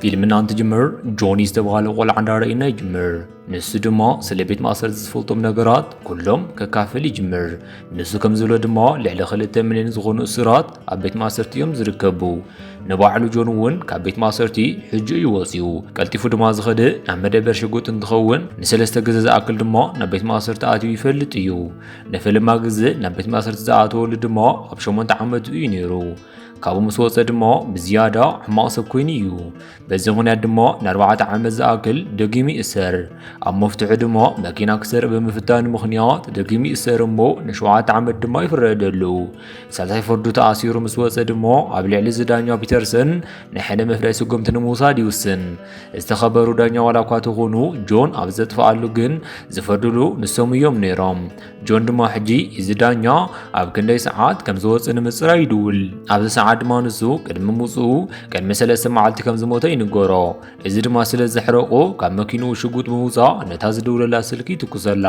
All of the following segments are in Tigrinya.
ፊልምና እንትጅምር ጆኒ ዝተባሃለ ቆልዓ እንዳረእና ይጅምር። ንሱ ድማ ስለ ቤት ማእሰርቲ ዝፈልጦም ነገራት ኩሎም ከካፍል ይጅምር። ንሱ ከም ዝብሎ ድማ ልዕሊ ክልተ ሚልዮን ዝኾኑ እሱራት ኣብ ቤት ማእሰርቲ እዮም ዝርከቡ። ንባዕሉ ጆን እውን ካብ ቤት ማእሰርቲ ሕጂ እዩ ወፂኡ። ቀልጢፉ ድማ ዝኸደ ናብ መደበር ሽጉጥ እንትኸውን ንሰለስተ ግዘ ዝኣክል ድማ ናብ ቤት ማእሰርቲ ኣትዩ ይፈልጥ እዩ። ንፍልማ ግዝ ናብ ቤት ማእሰርቲ ዝኣተወሉ ድማ ኣብ ሸሞንተ ዓመቱ እዩ ነይሩ። ካብኡ ምስ ወፀ ድማ ብዝያዳ ሕማቕ ሰብ ኮይኑ እዩ በዚ ምክንያት ድማ ንኣርባዕተ ዓመት ዝኣክል ደጊሙ ይእሰር ኣብ መፍትሑ ድማ መኪና ክሰርቅ ብምፍታኑ ምክንያት ደጊሙ ይእሰር እሞ ንሸውዓተ ዓመት ድማ ይፍረደሉ ሳልሳይ ፍርዱ ተኣሲሩ ምስ ወፀ ድማ ኣብ ልዕሊ ዝዳኛ ፒተርሰን ናይ ሕነ መፍረይ ስጉምቲ ንምውሳድ ይውስን ዝተኸበሩ ዳኛ ዋላ እኳ ተኾኑ ጆን ኣብ ዘጥፍኣሉ ግን ዝፈርድሉ ንሶም እዮም ነይሮም። ጆን ድማ ሕጂ እዚ ዳኛ ኣብ ክንደይ ሰዓት ከም ዝወፅእ ንምፅራይ ይድውል። ኣብዚ ሰዓት ድማ ንሱ ቅድሚ ምውፅኡ ቅድሚ ሰለስተ መዓልቲ ከም ዝሞተ ይንገሮ። እዚ ድማ ስለ ዘሕረቆ ካብ መኪንኡ ሽጉጥ ብምውፃእ ነታ ዝድውለላ ስልኪ ይትኩሰላ።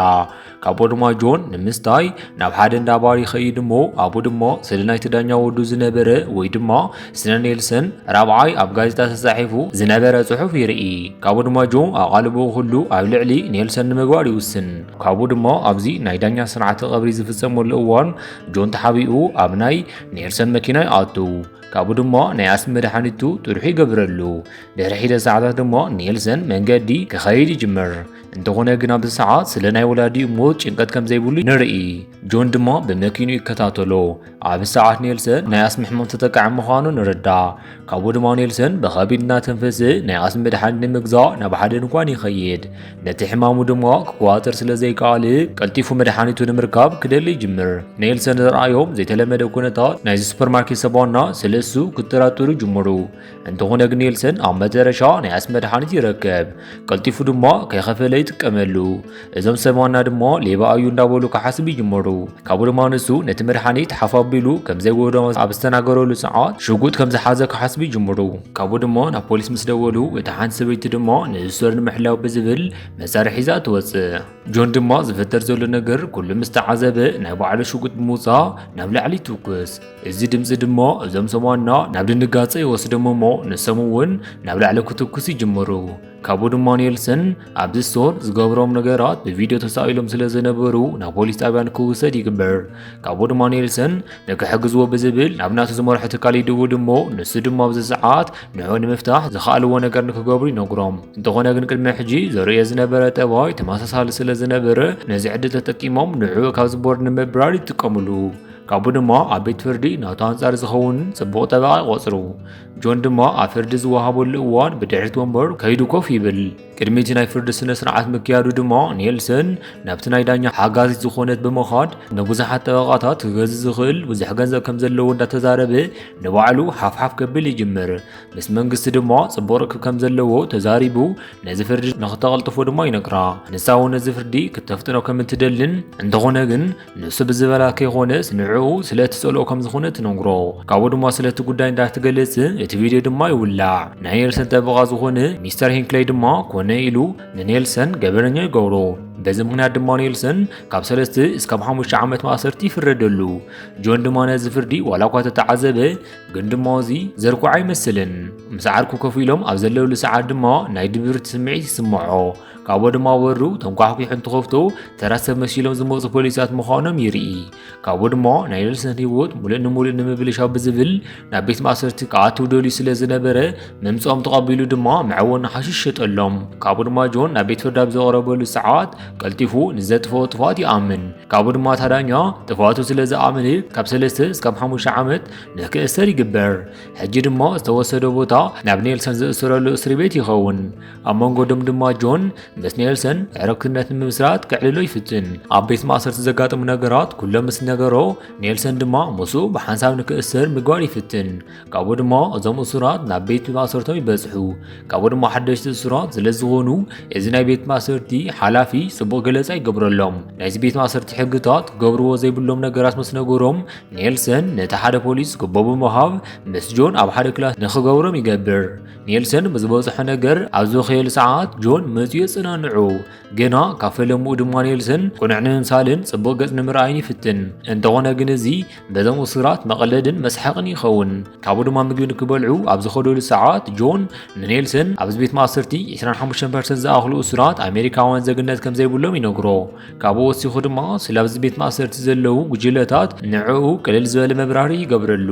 ካብኡ ድማ ጆን ንምስታይ ናብ ሓደ እንዳ ባር ይኸይድ እሞ ኣብኡ ድማ ስለ ናይቲ ዳኛ ወዱ ዝነበረ ወይ ድማ ስለ ኔልሰን ራብዓይ ኣብ ጋዜጣ ተጻሒፉ ዝነበረ ጽሑፍ ይርኢ ካብኡ ድማ ጆን ኣቓልቦኡ ኩሉ ኣብ ልዕሊ ኔልሰን ንምግባር ይውስን ካብኡ ድማ ኣብዚ ናይ ዳኛ ስርዓተ ቐብሪ ዝፍጸመሉ እዋን ጆን ተሓቢኡ ኣብ ናይ ኔልሰን መኪና ይኣቱ ካብኡ ድማ ናይ ኣስሚ መድሓኒቱ ጥርሑ ይገብረሉ ድሕሪ ሒደት ሰዓታት ድማ ኔልሰን መንገዲ ክኸይድ ይጅምር እንተኾነ ግን ኣብዚ ሰዓት ስለ ናይ ወላዲኡ ሞት ጭንቀት ከም ዘይብሉ ንርኢ። ጆን ድማ ብመኪኑ ይከታተሎ። ኣብ ሰዓት ኔልሰን ናይ ኣስሚ ሕማም ተጠቃዒ ምዃኑ ንርዳእ። ካብኡ ድማ ኔልሰን ብኸቢድ እናተንፈሰ ናይ ኣስሚ መድሓኒት ንምግዛእ ናብ ሓደ ድንኳን ይኸይድ። ነቲ ሕማሙ ድማ ክቆዋፀር ስለ ዘይከኣለ ቀልጢፉ መድሓኒቱ ንምርካብ ክደሊ ይጅምር። ኔልሰን ዝረኣዮም ዘይተለመደ ኩነታት ናይዚ ሱፐርማርኬት ሰባና ስለ እሱ ክጠራጠሩ ይጅምሩ። እንተኾነ ግን ኔልሰን ኣብ መጨረሻ ናይ ኣስ መድሓኒት ይረከብ ቀልጢፉ ድማ ከይኸፈለ ይጥቀመሉ እዞም ሰማና ድማ ሌባ እዩ እንዳበሉ ክሓስብ ይጅመሩ ካብኡ ድማ ንሱ ነቲ መድሓኒት ሓፍ ኣቢሉ ከም ዘይጎዶ ኣብ ዝተናገረሉ ሰዓት ሽጉጥ ከም ዝሓዘ ክሓስብ ይጅምሩ ካብኡ ድማ ናብ ፖሊስ ምስ ደወሉ እቲ ሓንቲ ሰበይቲ ድማ ንእሶር ንምሕላው ብዝብል መሳርሒ ሒዛ ትወፅእ ጆን ድማ ዝፈጠር ዘሎ ነገር ኩሉ ምስ ተዓዘበ ናይ ባዕሉ ሽጉጥ ብምውፃእ ናብ ላዕሊ ይትኩስ እዚ ድምጺ ድሞ እዞም ሰማና ናብ ድንጋጸ ይወስዶም እሞ ንሶም እውን ናብ ላዕሊ ክትኩስ ይጅምሩ። ካብኡ ድማ ኔልሰን ኣብዚ ስቶር ዝገብሮም ነገራት ብቪድዮ ተሳኢሎም ስለ ዝነበሩ ናብ ፖሊስ ጣብያ ንክውሰድ ይግበር። ካብኡ ድማ ኔልሰን ንክሕግዝዎ ብዝብል ናብ ናቱ ዝመርሖ ትካል ይድውል እሞ ንሱ ድማ ኣብዚ ሰዓት ንዑ ንምፍታሕ ዝኸኣልዎ ነገር ንክገብሩ ይነግሮም። እንተኾነ ግን ቅድሚ ሕጂ ዘርእዮ ዝነበረ ጠባይ ተመሳሳሊ ስለ ዝነበረ ነዚ ዕድል ተጠቂሞም ንዑ ካብዚ ቦርድ ንምብራር ይጥቀምሉ። ካብኡ ድማ ኣብ ቤት ፍርዲ ናቱ ኣንጻር ዝኸውን ጽቡቕ ጠበቓ ይቖጽሩ። ጆን ድማ ኣብ ፍርዲ ዝወሃበሉ እዋን ብድሕሪት ወንበር ከይዱ ኮፍ ይብል። ቅድሚ እቲ ናይ ፍርዲ ስነ ስርዓት ምክያዱ ድማ ኔልሰን ናብቲ ናይ ዳኛ ሓጋዚት ዝኾነት ብምኻድ ንብዙሓት ጠበቓታት ክገዝ ዝኽእል ብዙሕ ገንዘብ ከም ዘለዎ እንዳተዛረበ ንባዕሉ ሓፍሓፍ ከብል ይጅምር። ምስ መንግስቲ ድማ ጽቡቕ ርክብ ከም ዘለዎ ተዛሪቡ ነዚ ፍርዲ ንክተቐልጥፎ ድማ ይነግራ። ንሳ እውን ነዚ ፍርዲ ክተፍጥኖ ከም እትደልን እንተኾነ ግን ንሱ ብዝበላ ከይኾነስ ንዕኡ ስለ እትጸልኦ ከም ዝኾነ ትነግሮ ካብኡ ድማ ስለ እቲ ጉዳይ እንዳትገልጽ እቲ ቪድዮ ድማ ይውላዕ ናይ ኔልሰን ጠበቓ ዝኾነ ሚስተር ሂንክለይ ድማ ኮነ ኢሉ ንኔልሰን ገበነኛ ይገብሮ በዚ ምክንያት ድማ ኔልሰን ካብ ሰለስተ እስካብ ሓሙሽተ ዓመት ማእሰርቲ ይፍረደሉ ጆን ድማ ነዚ ፍርዲ ዋላ እኳ ተተዓዘበ ግን ድማ እዚ ዘርኩዕ ኣይመስልን ምስ ዓርኩ ከፍ ኢሎም ኣብ ዘለውሉ ሰዓት ድማ ናይ ድብርቲ ስምዒት ይስምዖ ካብኡ ድማ ወሩ ተንኳሕኲሑ እንትኸፍቶ ተራ ሰብ መሲሎም ዝመፁ ፖሊሳት ምዃኖም ይርኢ ካብኡ ድማ ናይ ኔልሰን ህይወት ሙሉእ ንሙሉእ ንምብልሻው ብዝብል ናብ ቤት ማእሰርቲ ክኣትው ደልዩ ስለ ዝነበረ ምምፅኦም ተቐቢሉ ድማ መዐወኒ ሓሽሽ ሸጠሎም ካብኡ ድማ ጆን ናብ ቤት ፍርድ ኣብ ዘቕረበሉ ሰዓት ቀልጢፉ ንዘጥፈኦ ጥፍኣት ይኣምን ካብኡ ድማ ታዳኛ ጥፍኣቱ ስለ ዝኣምን ካብ ሰለስተ እስካብ ሓሙሽተ ዓመት ንክእሰር ይግበር ሕጂ ድማ ዝተወሰደ ቦታ ናብ ኔልሰን ዝእስረሉ እስሪ ቤት ይኸውን ኣብ መንጎ ደም ድማ ጆን ምስ ኔልሰን ዕርክነት ንምስራት ክዕልሎ ይፍትን ኣብ ቤት ማእሰርቲ ዘጋጥሙ ነገራት ኩሎም ምስ ነገሮ ኔልሰን ድማ ምስ ብሓንሳብ ንክእሰር ምግባር ይፍትን ካብኡ ድማ እዞም እሱራት ናብ ቤት ማእሰርቶም ይበጽሑ ካብኡ ድማ ሓደሽቲ እሱራት ስለ ዝኾኑ እዚ ናይ ቤት ማእሰርቲ ሓላፊ ጽቡቕ ገለጻ ይገብረሎም ናይዚ ቤት ማእሰርቲ ሕግታት ገብርዎ ዘይብሎም ነገራት ምስ ነገሮም ኔልሰን ነቲ ሓደ ፖሊስ ግቦ ብምሃብ ምስ ጆን ኣብ ሓደ ክላስ ንክገብሮም ይገብር ኔልሰን ብዝበጽሖ ነገር ኣብ ዝኸየል ሰዓት ጆን መጺኡ ጽናንዑ ግና ካብ ፈለምኡ ድማ ኔልሰን ቁኑዕ ንምምሳልን ጽቡቕ ገጽ ንምርኣይን ይፍትን እንተኾነ ግን እዚ በዞም እሱራት መቐለድን መስሓቕን ይኸውን ካብኡ ድማ ምግቢ ንክበልዑ ኣብ ዝኸደሉ ሰዓት ጆን ንኔልሰን ኣብዚ ቤት ማእሰርቲ 25 ፐርሰንት ዝኣኽሉ እሱራት ኣሜሪካውያን ዜግነት ከም ዘይብሎም ይነግሮ ካብኡ ወሲኹ ድማ ስለ ኣብዚ ቤት ማእሰርቲ ዘለዉ ጉጅለታት ንዕኡ ቅልል ዝበለ መብራሪ ይገብረሉ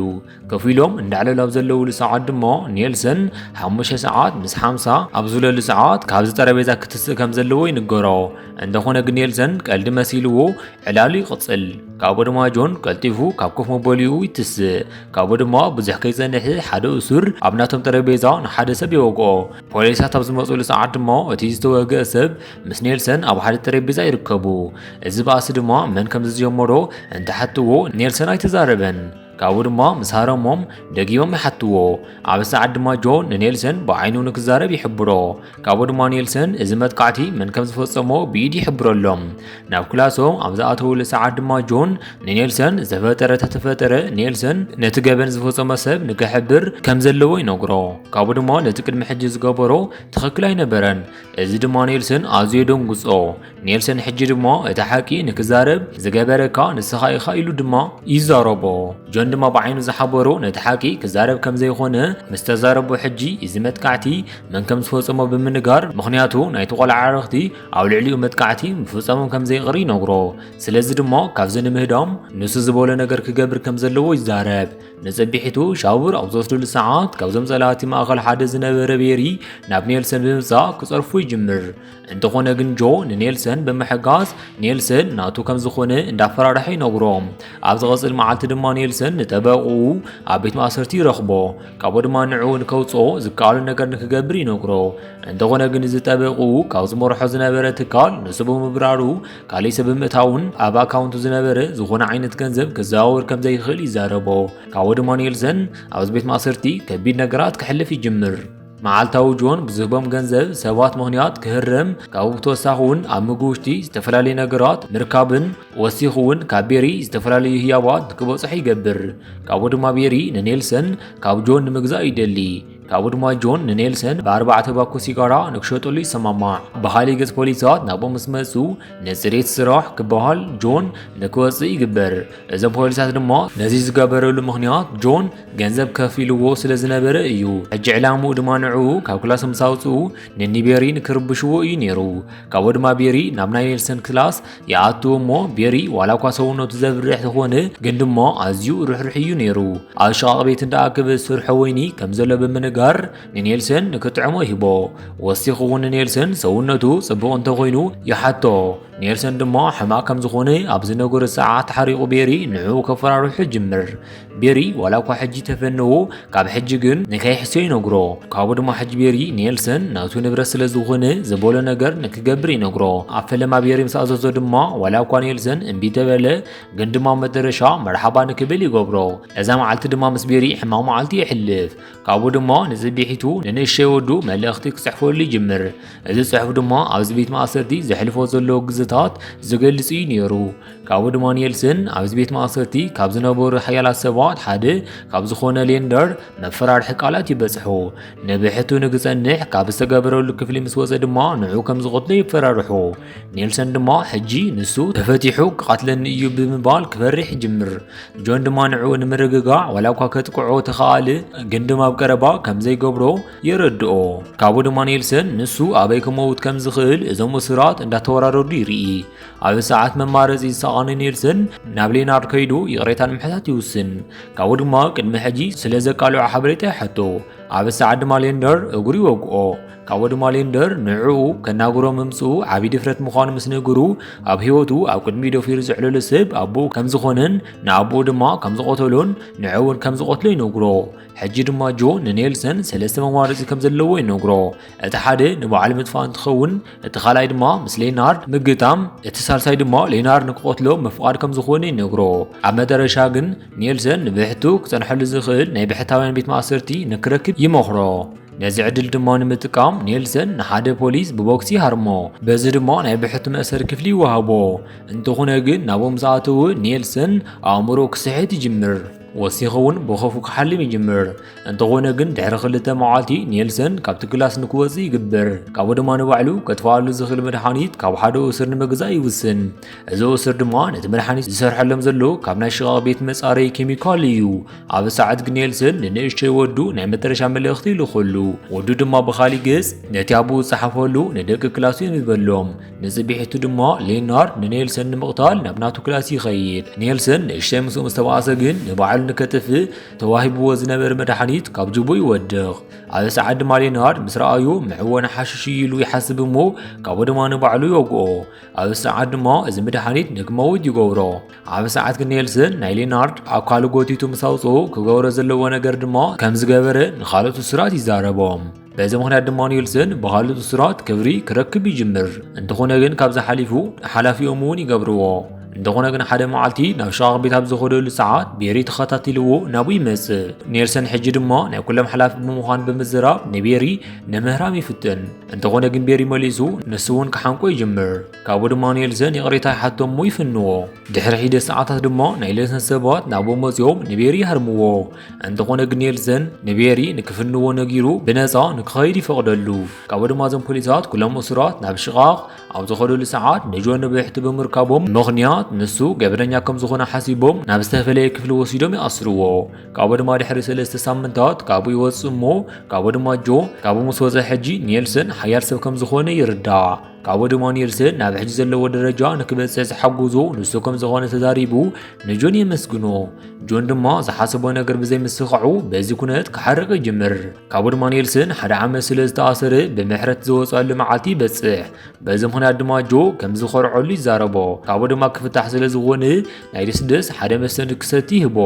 ከፍ ኢሎም እንዳዕለሉ ኣብ ዘለውሉ ሰዓት ድማ ኔልሰን ሓሙሽተ ሰዓት ምስ ሓምሳ ኣብ ዝብለሉ ሰዓት ካብዚ ጠረጴዛ ክትስእ ከም ዘለዎ ይንገሮ። እንተኾነ ግን ኔልሰን ቀልዲ መሲልዎ ዕላሉ ይቕጽል። ካብኡ ድማ ጆን ቀልጢፉ ካብ ኮፍ መበሊኡ ይትስእ። ካብኡ ድማ ብዙሕ ከይጸንሕ ሓደ እሱር ኣብ ናቶም ጠረጴዛ ንሓደ ሰብ ይወግኦ። ፖሊሳት ኣብ ዝመጽሉ ሰዓት ድማ እቲ ዝተወግአ ሰብ ምስ ኔልሰን ኣብ ሓደ ጠረጴዛ ይርከቡ። እዚ ባእሲ ድማ መን ከም ዝጀመሮ እንተሓትዎ ኔልሰን ኣይተዛረበን። ካብኡ ድማ ምስ ሃረሞም ደጊሞም ይሓትዎ። ኣብ ሰዓት ድማ ጆ ንኔልሰን ብዓይኑ ንክዛረብ ይሕብሮ። ካብኡ ድማ ኔልሰን እዚ መጥቃዕቲ መን ከም ዝፈጸሞ ብኢድ ይሕብረሎም። ናብ ክላሶም ኣብ ዝኣተውሉ ሰዓት ድማ ጆን ንኔልሰን ዝተፈጠረ ተተፈጠረ ኔልሰን ነቲ ገበን ዝፈጸመ ሰብ ንክሕብር ከም ዘለዎ ይነግሮ። ካብኡ ድማ ነቲ ቅድሚ ሕጂ ዝገበሮ ትኽክል ኣይነበረን። እዚ ድማ ኔልሰን ኣዝዮ ደንጉጾ። ኔልሰን ሕጂ ድማ እቲ ሓቂ ንክዛረብ ዝገበረካ ንስኻ ኢኻ ኢሉ ድማ ይዛረቦ ጆን ድማ ብዓይኑ ዝሓበሮ ነቲ ሓቂ ክዛረብ ከም ዘይኾነ ምስ ተዛረቦ ሕጂ እዚ መጥቃዕቲ መን ከም ዝፈጸሞ ብምንጋር ምኽንያቱ ናይቲ ቆልዓ ዓረኽቲ ኣብ ልዕሊኡ መጥቃዕቲ ምፍጸሞም ከም ዘይቕሪ ይነግሮ ስለዚ ድማ ካብዚ ንምህዳም ንሱ ዝበሎ ነገር ክገብር ከም ዘለዎ ይዛረብ ንጽቢሒቱ ሻውር ኣብ ዝወስድሉ ሰዓት ካብዞም ጸላእቲ ማእኸል ሓደ ዝነበረ ቤሪ ናብ ኔልሰን ብምምጻእ ክጸርፉ ይጅምር እንተኾነ ግን ጆ ንኔልሰን ብምሕጋዝ ኔልሰን ናቱ ከም ዝኾነ እንዳፈራርሐ ይነግሮ ኣብ ዝቐጽል መዓልቲ ድማ ኔልሰን ንጠበቕኡ ኣብ ቤት ማእሰርቲ ይረኽቦ ካብኡ ድማ ንዕኡ ንከውጽኦ ዝከኣሉ ነገር ንክገብር ይነግሮ እንተኾነ ግን እዚ ጠበቕኡ ካብ ዝመርሖ ዝነበረ ትካል ንሱ ብምብራሩ ካልእ ሰብ ብምእታውን ኣብ ኣካውንቱ ዝነበረ ዝኾነ ዓይነት ገንዘብ ክዘዋወር ከም ዘይኽእል ይዛረቦ ካብኡ ድማ ኔልሰን ኣብዚ ቤት ማእሰርቲ ከቢድ ነገራት ክሕልፍ ይጅምር መዓልታዊ ጆን ብዝህቦም ገንዘብ ሰባት ምኽንያት ክህረም ካብኡ ብተወሳኺ እውን ኣብ ምግቢ ውሽጢ ዝተፈላለዩ ነገራት ምርካብን ወሲኹ እውን ካብ ቤሪ ዝተፈላለዩ ህያባት ክበፅሑ ይገብር። ካብኡ ድማ ቤሪ ንኔልሰን ካብ ጆን ንምግዛእ ይደሊ። ካብኡ ድማ ጆን ንኔልሰን ብኣርባዕተ ባኮ ሲጋራ ንክሸጠሉ ይሰማማዕ። ብካሊእ ገፅ ፖሊሳት ናብኡ ምስ መፁ ንፅሬት ስራሕ ክበሃል ጆን ንክወፅእ ይግበር። እዞም ፖሊሳት ድማ ነዚ ዝገበረሉ ምኽንያት ጆን ገንዘብ ከፊልዎ ስለ ዝነበረ እዩ። ሕጂ ዕላምኡ ድማ ንዕኡ ካብ ክላስ ምስ ኣውጽኡ ንኒ ቤሪ ንክርብሽዎ እዩ ነይሩ። ካብኡ ድማ ቤሪ ናብ ናይ ኔልሰን ክላስ ይኣቱ እሞ ቤሪ ዋላ እኳ ሰውነቱ ዘብርሕ ዝኾነ ግን ድማ ኣዝዩ ርሕርሕ እዩ ነይሩ። ኣብ ሽቓቕ ቤት እንዳ ኣክብ ዝስርሖ ወይኒ ከም ዘሎ ብምንጋር ንኔልሰን ንክጥዕሞ ይህቦ። ወሲኹ እውን ንኔልሰን ሰውነቱ ጽቡቕ እንተኾይኑ ይሓቶ። ኔልሰን ድማ ሕማቕ ከም ዝኾነ ኣብ ዝነገሮ ሰዓት ተሓሪቑ ቤሪ ንዕኡ ከፈራርሑ ይጅምር። ቤሪ ዋላ እኳ ሕጂ ተፈነዎ ካብ ሕጂ ግን ንከይሕስዮ ይነግሮ ካብኡ ድማ ሕጂ ቤሪ ኔልሰን ናቱ ንብረት ስለ ዝኾነ ዝበሎ ነገር ንክገብር ይነግሮ ኣብ ፈለማ ቤሪ ምስ ኣዘዞ ድማ ዋላ እኳ ኔልሰን እምቢ ተበለ ግን ድማ መደረሻ መርሓባ ንክብል ይገብሮ እዛ መዓልቲ ድማ ምስ ቤሪ ሕማቕ መዓልቲ ይሕልፍ ካብኡ ድማ ንፅቢሒቱ ንንእሸይ ወዱ መልእኽቲ ክፅሕፈሉ ይጅምር እዚ ፅሑፍ ድማ ኣብዚ ቤት ማእሰርቲ ዘሕልፎ ዘለዎ ግዝታት ዝገልፅ እዩ ነይሩ ካብኡ ድማ ኔልስን ኣብዚ ቤት ማእሰርቲ ካብ ዝነበሩ ሓያላት ሰባት ሓደ ካብ ዝኾነ ሌንደር መፈራርሒ ቃላት ይበጽሖ ንብሕቱ ንክጸንሕ ካብ ዝተገበረሉ ክፍሊ ምስ ወፀ ድማ ንዑ ከም ዝቐትሎ ይፈራርሖ ኔልሰን ድማ ሕጂ ንሱ ተፈቲሑ ክቐትለኒ እዩ ብምባል ክፈርሕ ይጅምር ጆን ድማ ንዑ ንምርግጋዕ ዋላ እኳ ከጥቅዖ ተኸኣለ ግን ድማ ኣብ ቀረባ ከም ዘይገብሮ የረድኦ ካብኡ ድማ ኔልሰን ንሱ ኣበይ ክመውት ከም ዝኽእል እዞም እሱራት እንዳተወራረዱ ይርኢ ኣብ ሰዓት መማረፂ ዝሰኣነ ኔልሰን ናብ ሌናርድ ከይዱ ይቕሬታን ምሕታት ይውስን ካብኡ ድማ ቅድሚ ሕጂ ስለ ዘቃልዖ ሓበሬታ ይሓቶ ኣብ ሰዓት ድማ ሌንደር እግሩ ይወግኦ ካብኡ ድማ ሌንደር ንዕኡ ከናግሮ ምምፅኡ ዓብዪ ድፍረት ምዃኑ ምስ ነገሩ ኣብ ህይወቱ ኣብ ቅድሚ ደፊሩ ዘዕለሎ ሰብ ኣቦኡ ከም ዝኾነን ንኣቦኡ ድማ ከም ዝቐተሎን ንዕኡ እውን ከም ዝቐትሎ ይነግሮ ሕጂ ድማ ጆ ንኔልሰን ሰለስተ መማረፂ ከም ዘለዎ ይነግሮ እቲ ሓደ ንባዕሉ ምጥፋእ እንትኸውን እቲ ካልኣይ ድማ ምስ ሌናርድ ምግጣም እቲ ሳልሳይ ድማ ሌናርድ ንክቐትሎ ምፍቓድ ከም ዝኾነ ይነግሮ ኣብ መጠረሻ ግን ኔልሰን ንብሕቱ ክፀንሐሉ ዝኽእል ናይ ብሕታውያን ቤት ማእሰርቲ ንክረክብ ይመኽሮ ነዚ ዕድል ድማ ንምጥቃም ኔልሰን ንሓደ ፖሊስ ብቦክሲ ሃርሞ በዚ ድማ ናይ ብሕቱ መእሰሪ ክፍሊ ይወሃቦ እንተኾነ ግን ናብኦም ዝኣተወ ኔልሰን ኣእምሮ ክስሕት ይጅምር ወሲኹ እውን ብኸፉ ክሓልም ይጅምር። እንተኾነ ግን ድሕሪ ክልተ መዓልቲ ኔልሰን ካብቲ ክላስ ንክወጽእ ይግበር። ካብኡ ድማ ንባዕሉ ከጥፍኣሉ ዝኽእል መድሓኒት ካብ ሓደ እሱር ንምግዛእ ይውስን። እዚ እሱር ድማ ነቲ መድሓኒት ዝሰርሐሎም ዘሎ ካብ ናይ ሽቓቕ ቤት መጻረይ ኬሚካል እዩ። ኣብ ሰዓት ግን ኔልሰን ንንእሽተይ ወዱ ናይ መጠረሻ መልእኽቲ ይልኸሉ። ወዱ ድማ ብኻሊእ ገጽ ነቲ ኣቦኡ ዝጸሓፈሉ ንደቂ ክላሱ የንብበሎም። ንጽቢሒቱ ድሞ ሌናርድ ንኔልሰን ንምቕታል ናብ ናቱ ክላስ ይኸይድ። ኔልሰን ንእሽተይ ምስኡ ምስ ተባኣሰ ግን ንባዕሉ ንከጥፍእ ተዋሂብዎ ዝነበረ መድሓኒት ካብ ጅቡ ይወድቕ። ኣብ ሰዓት ድማ ሌናርድ ምስ ረኣዩ ምዕወነ ሓሽሽ እዩ ኢሉ ይሓስብ እሞ ካብኡ ድማ ንባዕሉ ይወግኦ። ኣብ ሰዓት ድማ እዚ መድሓኒት ንክመውት ይገብሮ። ኣብ ሰዓት ግን ኔልሰን ናይ ሌናርድ ኣካሉ ጎቲቱ ምስ ኣውጽኡ ክገብሮ ዘለዎ ነገር ድማ ከም ዝገበረ ንኻልኦት እሱራት ይዛረቦም። በዚ ምክንያት ድማ ኒልሰን ብኻልእ እሱራት ክብሪ ክረክብ ይጅምር። እንተኾነ ግን ካብዚ ሓሊፉ ሓላፊኦም እውን ይገብርዎ። እንተኾነ ግን ሓደ መዓልቲ ናብ ሸቓቕ ቤት ኣብ ዝኸደሉ ሰዓት ቤሪ ተኸታቲልዎ ናብኡ ይመጽእ። ኔልሰን ሕጂ ድማ ናይ ኩሎም ሓላፊ ብምዃን ብምዝራብ ንቤሪ ንምህራም ይፍትን። እንተኾነ ግን ቤሪ መሊሱ ንሱ እውን ክሓንቆ ይጅምር። ካብኡ ድማ ኔልሰን ይቕሬታ ይሓቶ እሞ ይፍንዎ። ድሕሪ ሒደት ሰዓታት ድማ ናይ ኔልሰን ሰባት ናብኡ መጺኦም ንቤሪ ይሃርምዎ። እንተኾነ ግን የልሰን ንቤሪ ንክፍንዎ ነጊሩ ብነፃ ንክኸይድ ይፈቕደሉ ካብኡ ድማ እዞም ፖሊሳት ኩሎም እሱራት ናብ ሽቓቕ ኣብ ዝኸደሉ ሰዓት ንጆን ብሕቲ ብምርካቦም ምኽንያት ንሱ ገበነኛ ከም ዝኾነ ሓሲቦም ናብ ዝተፈለየ ክፍሊ ወሲዶም ይኣስርዎ ካብኡ ድማ ድሕሪ ሰለስተ ሳምንታት ካብኡ ይወፅእ እሞ ካብኡ ድማ ጆ ካብኡ ምስ ወፀ ሕጂ ኔልሰን ሓያል ሰብ ከም ዝኾነ ይርዳእ ካብ ወድሞ ኒልሰን ናብ ሕጂ ዘለዎ ደረጃ ንክበጽሕ ዝሓጎዞ ንሱ ከም ዝኾነ ተዛሪቡ ንጆን የመስግኖ። ጆን ድማ ዝሓሰቦ ነገር ብዘይምስኻዑ በዚ ኩነት ክሓርቕ ይጅምር። ካብ ወድሞ ኒልሰን ሓደ ዓመት ስለ ዝተኣሰረ ብምሕረት ዝወጸሉ መዓልቲ ይበጽሕ። በዚ ምኽንያት ድማ ጆ ከም ዝኾርዐሉ ይዛረቦ። ካብኡ ድማ ክፍታሕ ስለ ዝኾነ ናይ ደስደስ ሓደ መስተ ንክሰቲ ይህቦ።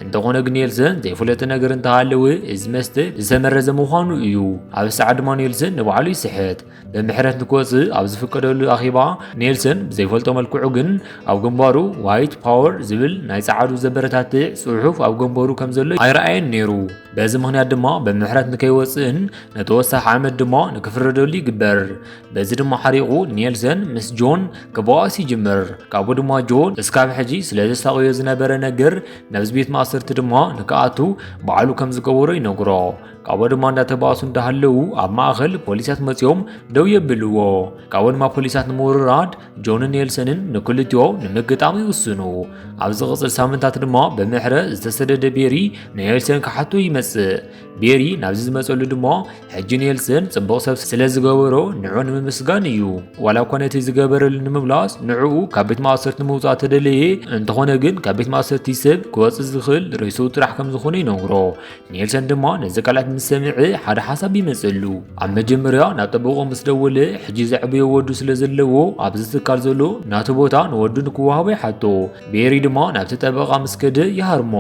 እንተኾነ ግን ኒልሰን ዘይፍለጥ ነገር እንተሃለወ እዚ መስተ ዝተመረዘ ምዃኑ እዩ። ኣብ ሰዓት ድማ ኒልሰን ንባዕሉ ይስሕት። ብምሕረት ንክወፅእ ኣብ ዝፍቀደሉ ኣኼባ ኔልሰን ብዘይፈልጦ መልክዑ ግን ኣብ ግንባሩ ዋይት ፓወር ዝብል ናይ ጸዓዱ ዘበረታትዕ ጽሑፍ ኣብ ግንባሩ ከም ዘሎ ኣይረኣየን ነይሩ። በዚ ምክንያት ድማ ብምሕረት ንከይወፅእን ንተወሳኺ ዓመት ድማ ንክፍረደሉ ይግበር። በዚ ድማ ሓሪቑ ኔልሰን ምስ ጆን ክበኣስ ይጅምር። ካብኡ ድማ ጆን እስካብ ሕጂ ስለ ዘሳቕዮ ዝነበረ ነገር ናብዚ ቤት ማእሰርቲ ድማ ንክኣቱ ባዕሉ ከም ዝገበሮ ይነግሮ። ካብኡ ድማ እንዳተባእሱ እንዳሃለዉ ኣብ ማእኸል ፖሊሳት መፂኦም ደው የብልዎ ካብኡ ድማ ፖሊሳት ንምውርራድ ጆንን ኔልሰንን ንክልቲኦ ንምግጣም ይውስኑ ኣብ ዝቕፅል ሳምንታት ድማ ብምሕረ ዝተሰደደ ቤሪ ንኔልሰን ክሓቶ ይመፅእ ቤሪ ናብዚ ዝመፀሉ ድማ ሕጂ ኔልሰን ፅቡቕ ሰብ ስለ ዝገበሮ ንዑ ንምምስጋን እዩ ዋላ እኳ ነቲ ዝገበረሉ ንምምላስ ንዕኡ ካብ ቤት ማእሰርቲ ንምውፃእ ተደለየ እንተኾነ ግን ካብ ቤት ማእሰርቲ ሰብ ክወፅእ ዝኽእል ርእሱ ጥራሕ ከም ዝኾነ ይነግሮ ኔልሰን ድማ ነዚ ቃላት ምስ ሰምዐ ሓደ ሓሳብ ይመፀሉ ኣብ መጀመርያ ናብ ጠበቆ ምስ ደወለ ሕጂ ዘዕበዮ ወዱ ስለ ዘለዎ ኣብዚ ትካል ዘሎ ናቱ ቦታ ንወዱ ንክወሃቦ ይሓቶ ቤሪ ድማ ናብቲ ጠበቃ ምስ ከደ ይሃርሞ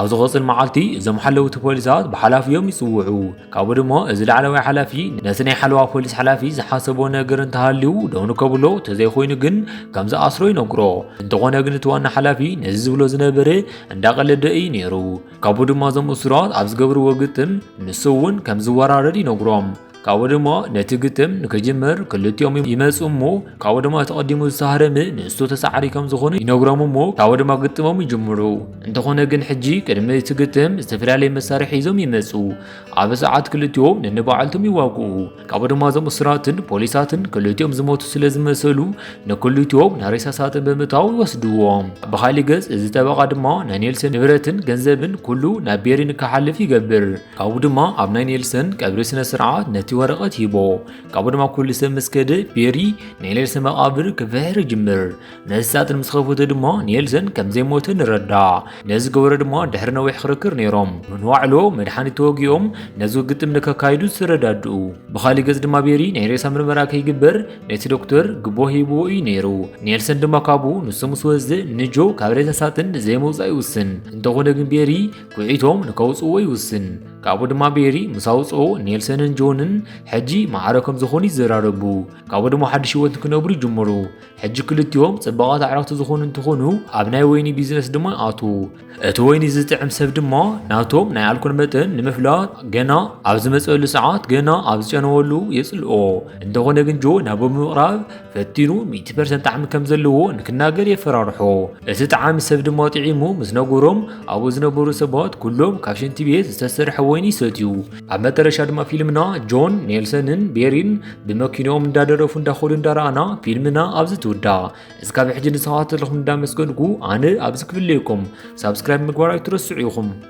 ኣብ ዝቐፅል መዓልቲ እዞም ሓለውቲ ፖሊሳት ብሓላፊዮም ይፅውዑ ካብኡ ድማ እዚ ላዕለዋይ ሓላፊ ነቲ ናይ ሓለዋ ፖሊስ ሓላፊ ዝሓሰቦ ነገር እንተሃልዩ ደው ንከብሎ ተዘይኮይኑ ግን ከም ዝኣስሮ ይነግሮ እንተኾነ ግን እቲ ዋና ሓላፊ ነዚ ዝብሎ ዝነበረ እንዳቀለደ እዩ ነይሩ ካብኡ ድማ እዞም እሱራት ኣብ ዝገብርዎ ግጥም ንሱ እውን ከም ዝወራረድ ይነግሮም ካብኡ ድማ ነቲ ግጥም ንክጅምር ክልቲኦም ይመፁ እሞ ካብኡ ድማ ተቐዲሙ ዝተሃረመ ንእሱ ተሳዓሪ ከም ዝኾኑ ይነግሮም እሞ ካብኡ ድማ ግጥሞም ይጅምሩ እንተኾነ ግን ሕጂ ቅድሚ እቲ ግጥም ዝተፈላለየ መሳርሒ ሒዞም ይመፁ ኣብ ሰዓት ክልቲኦም ነንባዕልቶም ይዋግኡ ካብኡ ድማ እዞም እሱራትን ፖሊሳትን ክልቲኦም ዝሞቱ ስለ ዝመሰሉ ንክልቲኦም ናብ ሬሳ ሳጥን ብምእታው ይወስድዎም። ብካሊእ ገጽ እዚ ጠበቓ ድማ ናይ ኔልሰን ንብረትን ገንዘብን ኩሉ ናብ ቤሪ ንክሓልፍ ይገብር። ካብኡ ድማ ኣብ ናይ ኔልሰን ቀብሪ ስነ ስርዓት ነቲ ወረቐት ሂቦ። ካብኡ ድማ ኩሉ ሰብ ምስ ከደ ቤሪ ናይ ኔልሰን መቓብር ክፍሕር ይጅምር። መሳጥን ምስ ኸፍቱ ድማ ኔልሰን ከም ዘይሞተ ንረዳእ ነዚ ገበረ ድማ ድሕሪ ነዊሕ ክርክር ነይሮም ንዋዕሎ መድሓኒት ተወጊኦም ነዚ ግጥም ንከካይዱ ዝተረዳድኡ ብኻሊእ ገጽ ድማ ቤሪ ናይ ሬሳ ምርመራ ከይግበር ነቲ ዶክተር ግቦ ሂብዎ እዩ ነይሩ ኔልሰን ድማ ካብኡ ንሱ ምስ ወዝ ንጆ ካብ ሬሳ ሳጥን ዘይመውፃእ ይውስን እንተኾነ ግን ቤሪ ኩዒቶም ንከውፅዎ ይውስን ካብኡ ድማ ቤሪ ምስ ኣውፅኦ ኔልሰንን ጆንን ሕጂ ማዕረ ከም ዝኾኑ ይዘራረቡ ካብኡ ድማ ሓድሽ ህይወት ክነብሩ ይጅምሩ ሕጂ ክልቲኦም ጽባቓት ኣዕርኽቲ ዝኾኑ እንትኾኑ ኣብ ናይ ወይኒ ቢዝነስ ድማ ይኣትዉ እቲ ወይኒ ዝጥዕም ሰብ ድማ ናቶም ናይ ኣልኮል መጠን ንምፍላጥ ገና ኣብ ዝመጸሉ ሰዓት ገና ኣብ ዝጨነወሉ የጽልኦ እንተኾነ ግን ጆ ናብ ብምቕራብ ፈቲኑ 100 ፐርሰንት ጣዕሚ ከም ዘለዎ ንክናገር የፈራርሖ እቲ ጠዓሚ ሰብ ድማ ጥዒሙ ምስ ነገሮም ኣብኡ ዝነበሩ ሰባት ኩሎም ካብ ሽንቲ ቤት ዝተሰርሐ ወይኒ ይሰትዩ ኣብ መጠረሻ ድማ ፊልምና ጆን ኔልሰንን ቤሪን ብመኪኖኦም እንዳደረፉ እንዳኾዱ እንዳረኣና ፊልምና ኣብዚ ትውዳ እስካ ብሕጂ ንሰባት ዘለኹም እንዳመስገንኩ ኣነ ኣብዚ ክፍለየኩም ሳብስክራይብ ምግባር ኣይትረስዑ ኢኹም